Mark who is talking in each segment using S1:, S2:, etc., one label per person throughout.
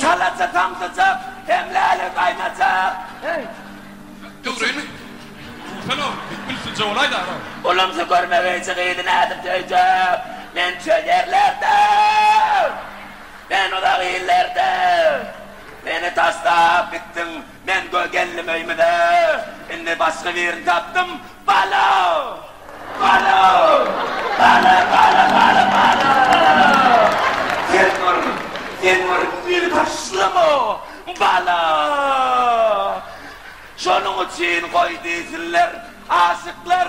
S1: Şalaja samsyjak,
S2: hemläli gaýnajak.
S1: Ulumsy görmegeýje
S2: gyzy nädip söýjek? Men çöl ýerlerde, sen uzak illerde. Meni taşlap gitdiň, Men göz geldim öýmüze, indi başga birini tapdym, Bala! Bala! Bala, bala, bala, bala! Sen bir, sen bir meni taşlama, bala! Şonuň üçin goý diýsinler aşyklar,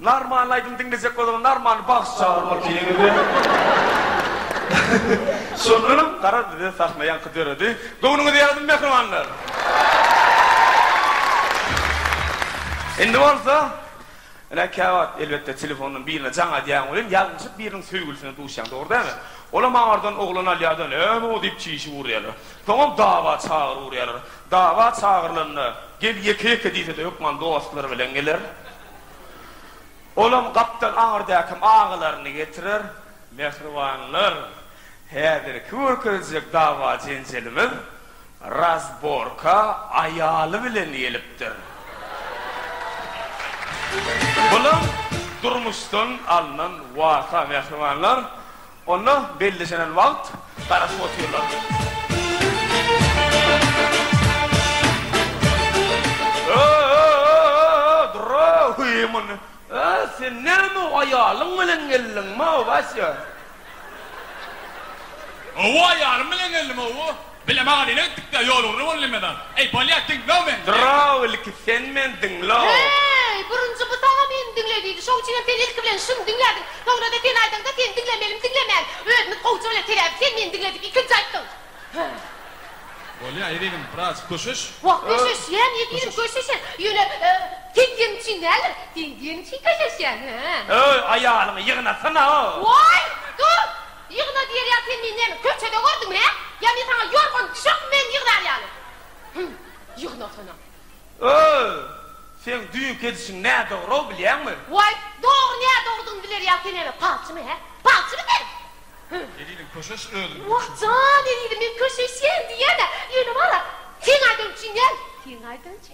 S2: Narmanly aýdym diňlejek bolsaňyz Narmanly bagşy çagyryp otyr indi. Şondanam garaz bize sahna ýaňky döredi. Göwnüňiz ýazymy mähribanlar. Indi bolsa ine käwagt elbetde telefondan birine jaň edýäň welin ýalňyşyp biriniň söýgülisine duşýaň dogry dälmi? Olam aňardan oglan alýada näme o diýip çişip urýarlar. Soňam dawa çagyryp urýarlar. Dawa çagyrylanda gel ýeke ýeke diýsede hökman dostlary bilen geler. Olam gapdan aňyrdakim agalaryny getirer. Mähribanlar, häzirki görkezjek dawa-jenjelimiz razborka aýaly bilen gelipdir. Bulam durmuşdan alnan waka, mähribanlar. Onda bellişenen wagt garaşyp otyrlar. Ö-ö-ö-ö-ö-ö, durra, huýýy muny. Ö, sen näme, aýalyň bilen geldiňmi, Wassýa? Hawa, aýalym bilen geldim,
S1: hawa. Bilem aga nene gitdikdä ýol ugry boldy mena. Eý bolýa diňloo men diýen. Draw ilki sen
S2: men diňloo. Heý burunjy
S3: bu saňa meni diňle diýdi şoň üçinem sen ilki bilen şuny diňlädiň soňrada sen aýdaňda seni diňlemelimi diňlemän özümiz gowja bile sebäbi sen meni diňle dip ikinji aýtdyň he. Bolýa
S1: ezizim biraz köşeş. Wah köşeşýän
S3: ezizim köşeşen ýöne sen diýeniň üçin däldir sen diýeniň üçin köşeşýän he. Öý aýalyňy
S2: ýygnasana o. Woý
S3: dur. Ýygna diýerýaň sen meni näme köçede gördüňmi hä? Ýa men saňa ýorgan düşekmi men ýygnýar ýaly. Hüm. Ýygnasana. Öý! Seň
S2: düýnki edişiň nädogry-ow bilýäňmi? Waý, dogry
S3: nädogrydygyny biler ýaly sen näme palçymy hä? Palçymy sen? Hüm. Elini
S1: köşeş özüniň Wah köşeşi. jan
S3: elini men köşeşýän diýýän-ä. Ýöne bar-a, seň aýdan üçin däl, seň aýdan üçin.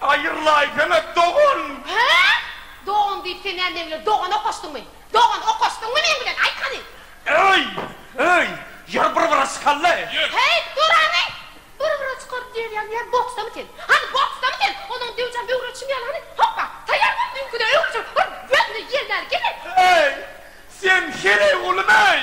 S2: Aýyrlaýsana, dogan! Hä?
S3: Dogan diýip sen näme meň bilen dogan okaşdyňmy? Dogan okaşdyňmy meň bilen? Aýt hany! Öý! Öý! Ýer bir-bire çykaly!
S2: Häýt, dur
S3: hany! Bir-bire çykaly diýerýäň diýýän boksdamy sen? Hany, boksdamy sen? Onam döwjäm öwretişim ýaly hany! Hoppa! Taýýar bol, düýnküde öwrüjek! Hur, gözüne ýel bäri gelmeýin! Äý, sen
S2: heleý gulumy-eý?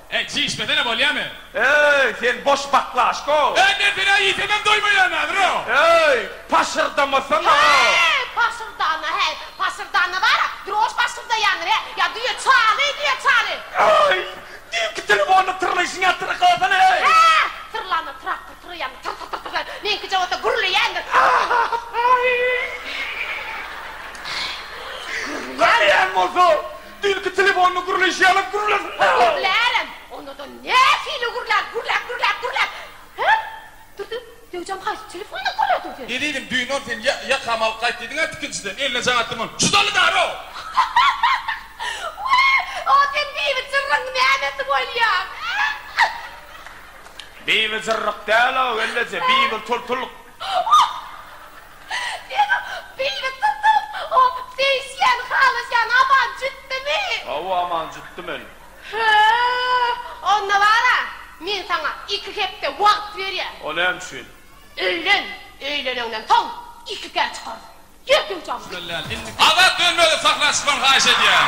S2: Eý, çiý içmesene,
S1: bolýamy? Eý, sen boş
S2: baklaşko! Eý, men senä iýsemem
S1: doýmaýan häzir-o! Eý,
S2: paşyrdamasana-a! Heý, paşyrdana, heý,
S3: paşyrdana bar-a, drož paşyrdaýandyr, he, ýa düýe çaly, düýe çaly! Eý,
S2: düýnki telefonyny tyrlaýşyňa tyrklasana-eý! Hä,
S3: tyrlanda traktor tyraýandyr, tyr-tyr-tyr-tyr-tyr, meňkije bolsa gürleýändir. Aý-y-y!
S2: Gürleýän bolsa, Ilki telefonyny gürleýşi ýaly gürlesin. Gürlärem.
S3: Onda-da nähili gürlär, gürläp, gürläp, gürläp. Her. Durdy, döwjem haýsy telefonyny gürlär durdy? Ezizim, düýn-ol sen
S1: ýa, ýakamy alyp gaýt diýdiň-ä tikinçiden, eline jaň atdym ony. Judaly daro! Wä,
S3: o sen Bibi Jyrrygyň nämesi bolýaň, a?
S2: Bibi Jyrryk däl-ow, elleje, Bibi Tultulyk.
S3: Senem beýle gyzyl o seýisýäni halasýan aman jütdimi? Hawa aman jütdi
S2: men. Hö onda
S3: bara men saňa iki hepde wagt berýän. O näme üçin?
S2: Öýlen
S3: öýleneňden soň ikikä çykarys. Ýör döwjagym gyt. Azat
S1: dönmezlik sahna çykmagyny haýyş edýän.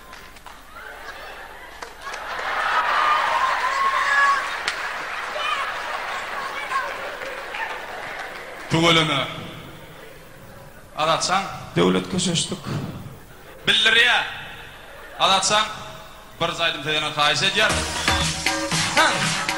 S1: Tüweleme. Azatjan. Döwlet köşeşdik. Bildirýär. Azatjan, bir aýdym söýeniňi haýyş edýärin. Hä!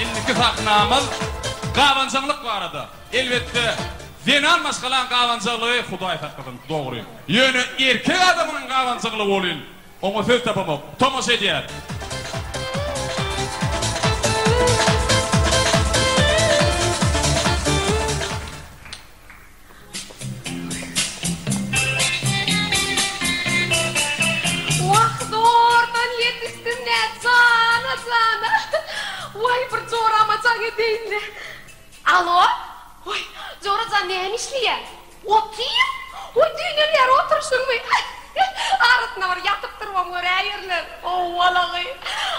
S4: Indiki
S1: sahnamyz gabanjaňlyk barada. Elbetde, zenan maşgalaň gabanjyklygy Hudaý saklasyn, dogry. Ýöne erkek adamynyň gabanjyklygy welin, oňa söz tapamok. Tomaşa edýäris.
S3: Wah, zordan ýetişdim-dä, jana-jana. Waý, bir jorama jaň edeýin-le. Alo! Oý, Jora jan näme işleýäň? Otyr! Oý, düýnelýär oturyşyňmy? Arasynda bir ýatyp-turubam göräýerler. Howwalagy!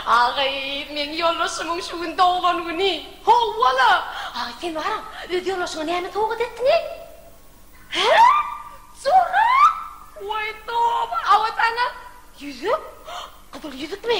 S3: Agay, meň ýoldaşymyň şu gün doglan güni. Howwala! Agay, sen baram, öz ýoldaşyňa näme sowgat etdiňe? Hä? Jora! Oý, toba! Awa saňa. Ýüzük? Gyzyl ýüzükmi?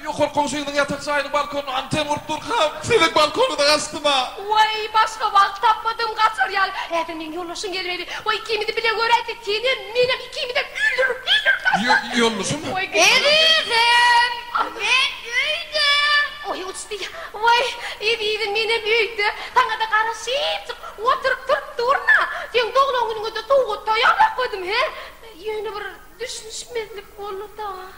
S3: Ýokarky
S5: goňşyňyzyň ýatak jaýynyň balkonyna anten gurup durkam, siziň balkonyňyza gaçdym-a! Waý, başga
S3: wagt tapmadym gaçar ýaly. Häzir meň ýoldaşym gelmeli. Waý, ikimizi bile göräýse, senem, menem ikimizem öldürip, öldürip taşlar. Ýoldaşym?
S5: Ezizim,
S3: men öýde. Waý, uçdy. Waý, ezizim, menem öýde. Saňa-da garaşypjyk oturyp turup durun-a. Seň doglan günüňe-de sowgat taýýarlap goýdum, he? Ýöne bir düşünişmezlik boldy-da.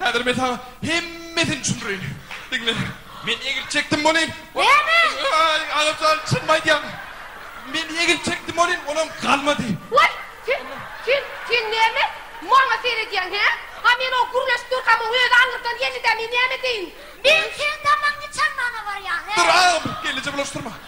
S5: Häzir men saňa hemmesini düşündireýin. Diňle. Men egil çekdim welin, Näme? Aý,
S3: agamjan,
S5: çynymy aýdýan. Men egil çekdim welin, olam galmady. Waý, sen,
S3: sen, sen näme maňa seredýäň, hä? A men o gürleşip durkamyň özi aňyrdan geldi-dä, men näme edeýin? Men seň damagyňy çalmaga barýan, hä? Dur, agam, gelneje
S5: bulaşdyrma.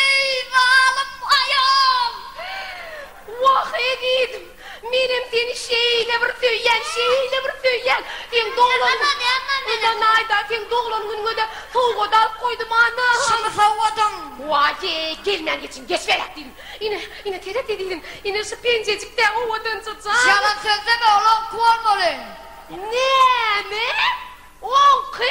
S3: Eý, zalym aýal! Wah, ezizim, menem seni şeýle bir söýýän, şeýle bir söýýän! Seň doglan Mundan naýda seň doglan günüňe-de sowgat alyp goýdum, ana! Şumy sowgadyň? Waý-ýe, gelmän geçiň, geçiberäk diýdim. Ine, ine, seret, ezizim, ine şu penjejik-dä owadanja jan! Ýalan sözleme, ol oňky bolmaly! Näme? Oňky?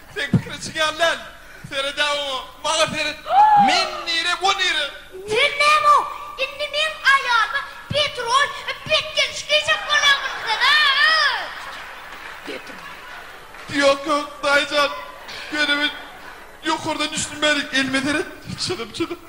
S5: Seň pikiriň çygan däl. Seredä oňa. Maňa seret. Men nire bu nire. Sen näme ow
S3: indi meň aýalyma petrol petgeliş geýjek bolýaň bilmsen a petrol.
S5: Ýok ýok daýyjan. Ýöne men ýokardan düşünmedik elime seret çyzyp çyzyp.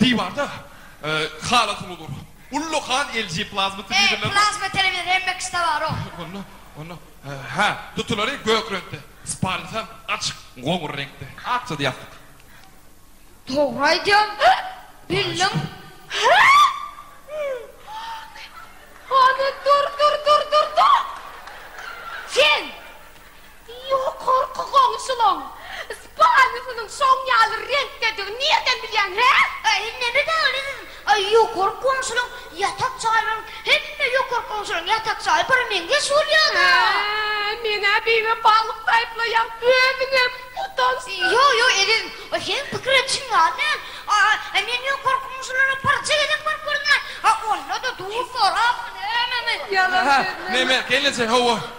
S5: Diwarda halat uly dur. Uly han LG plazma telewizorlary bar. Plazma telewizor hemme
S3: kişide bar-ow. Onda, onda,
S5: hä, tutulary gök reňkde, spalnysy açyk goňur reňkde. Akja ýassyk. Dogry aýdýaň,
S3: bildiň. Hany, dur, dur, dur, dur, dur! Sen Ýokarky goňşulaň spalnysynyň şoň ýaly reňkdedigini nirden bilýäň, hä? Äý, neneň ýaly siz? Äý, ýokarky goňşulaň ýatak jaýlaryň hemme ýokarky goňşulaň ýatak jaýy bir meňzeş bolýar-da. Hä, meň-ä beýle balyk taýplaýan özüňem utançsyz. Ýok, ýok, ezizim, ol seniň pikiriň çyn ýaly däl. A-a, men ýokarky goňşulara birje gezek baryp görüň-ä. A onda-da duş sorapmy, nämemi? Ýalan sözleme. Neme, gelneje, hawa.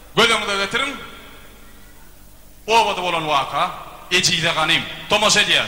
S1: Göz öňüňize getiriň, obada bolan waka. Ejize ganym, tomaşa edýär.